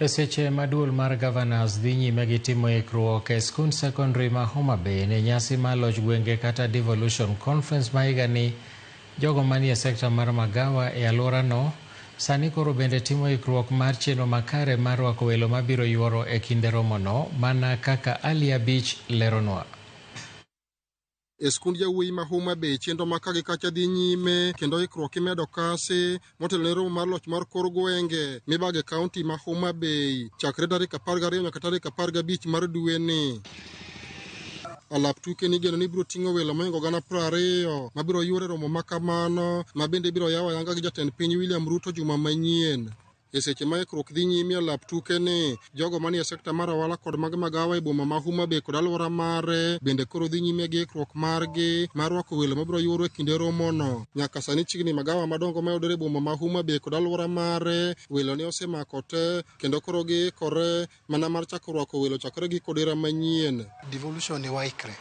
E seche ma duol mar Governors dhi nyime gi timo ikruok e skund secondary ma Homa Bay ne nyasi mar loch gwenge kata Devolution Conference ma higani, jogo manie sekta mar magawa e alworano sani koro bende timo ikruok mar chenro makare mar rwako welo mabiro yuoro e kinde romono, mana kaka Aliyah Beach leronwa. e skund jawuoyi ma Homa Bay chenro ma ka gi kacha dhi nyime kendo ikruok imedo kasi motelo ne romo mar loch mar kor gwenge mibage kaunti ma Homa Bay chakre tarik apar gariyo nyaka tarik apar gabich mar dweni. Alap tuke nigeno ni biro ting'o welo moingo gana piero ariyo ma biro yuoro e romo ma kamano ma bende ibiro yaw ayanga gi jatend piny William Ruto juma manyien. E seche ma ikruok dhi nyime e lap tuke ni, jogo manie sekta mar ohala kod mag magawa e boma ma Homa Bay kod alwora mare bende koro dhi nyime gi ikruok margi mar rwako welo mabiro yuoro e kinde romono. Nyaka sani chiegni magawa madongo mayudore e boma ma Homa Bay kod alwora mare welo ne osemako te kendo koro giikore Mana mar chako rwako welo chakre gi kodera manyien. Devolution ni waikre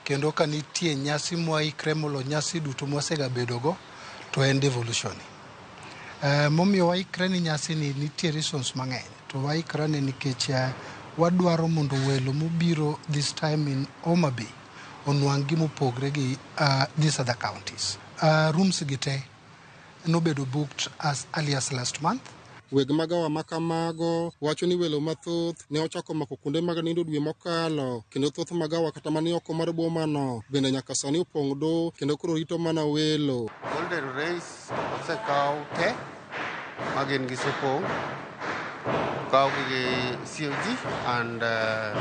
kendo ka nitie nyasi mwaikre molo nyasi duto mwasegabedogo to en devolution ni. Eh, momiyo waikre ni nyasi ni nitie reasons mang'eny to waikre ni nikech eh, wadwaro mondo welo mobiro this time in Homa Bay onwang' gimopogre gi uh, these other counties. Uh, rooms gi te nobedo booked as early as last month. Weg magawa ma kamago wacho ni welo mathoth ne ochako mako kuonde mag nindo dwe mokalo, kendo thoth magawa kata mani oko mar bomano bende nyaka sani opong' do kendo koro rito mana welo. Golden Rays osekaw te ma gin gi sopong', okawgi gi COG and uh,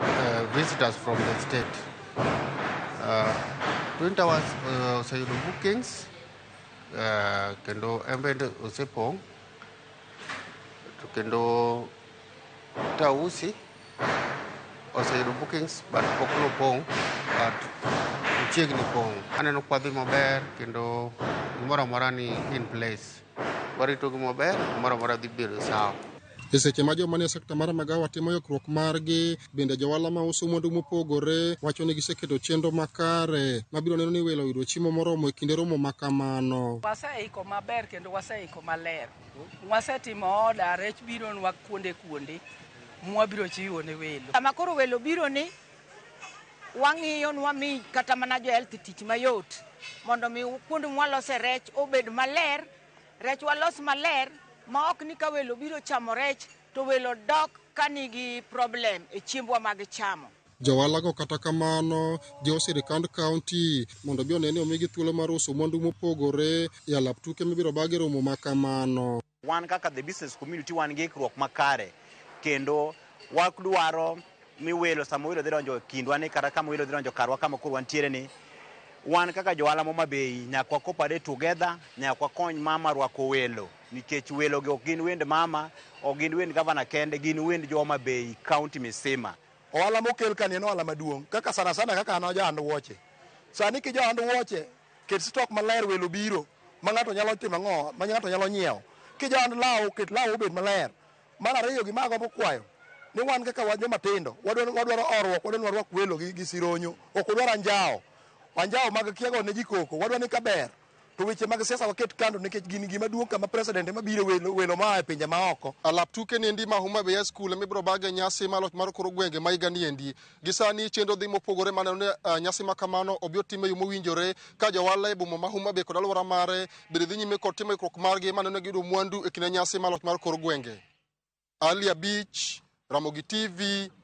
uh, visitors from the state. Uh, Twin Towers uh, oseyudo bookings uh, kendo en bende osepong' to kendo Tausi oseyudo bookings but pok nopong' but ochiegni pong'. Aneno kwadhi maber kendo gimoro amora ni in place. Warito gi maber, gimoro amora dhi bedo sawa. E seche ma joma nie sekta mar magawa timo yokruok margi, bende johala ma uso mwandu mopogore wacho ni giseketo chenro makare mabiro neno ni welo oyudo chiemo moromo e kinde romo ma kamano. Waseiko maber kendo waseiko maler. Wasetimo oda, rech bironwa kuonde kuonde mwabiro chiwo ne welo. Sama koro welo biro ni, wang'iyo ni wami kata mana jo health tich mayot mondo mi kuonde mwalose rech obed maler. Rech walos maler ma ok ni ka welo biro chamo rech to welo dok ka nigi problem e chiembwa mag chamo. Joalago kata kamano jiwo sirikand kaunti mondo obi one ni omigi thuolo mar uso mwandu mopogore e alap tuke mibiro bag e romo ma kamano. Wan kaka the business community wan gi ikruok makare kendo wadwaro mi welo sama welo dhi donjo e kindwa ni kata kama welo dhi donjo karwa kama koro wantiere ni wan kaka johala moma bei nyaka wakopade together nyaka wakony mama rwako welo nikech welo gi ok gin wend mama ok gin wend gavana kende gin wend joma bei kaunti misima ohala mokel kani en ohala maduong' kaka sana sana kaka an ajahand wuoche sani ki jahand wuoche ket stok maler welo biro ma ng'ato nyalo timo ang'o ma ng'ato nyalo nyiewo ki jahand law ket law obed maler Mar ariyo gima agombo kwayo ni wan kaka wan joma tindo wadwaro wadwaro orruok wadwaro warwak welo gi, gi sironyo ok wadwar anjawo anjawo mag kiago ne ji koko wadwa ni kaber to weche mag siasa waket kando nikech gini gima duong' kama president ema biro welo, welo maa e pinje maoko Alap tuke niendi ma Homa Bay High School emibiro bage nyasi mar loch mar koro gwenge ma higa niendi. Gi sani chenro dhi mopogore ma neno ni uh, nyasi ma kamano obi otim e yo mowinjore ka jowala e boma ma Homa Bay kod alwora mare bende dhi nyime kod timo ikruok margi ma neno ni giyudo mwandu e kinde nyasi mar loch mar kor gwenge. Ali Abich, Ramogi TV,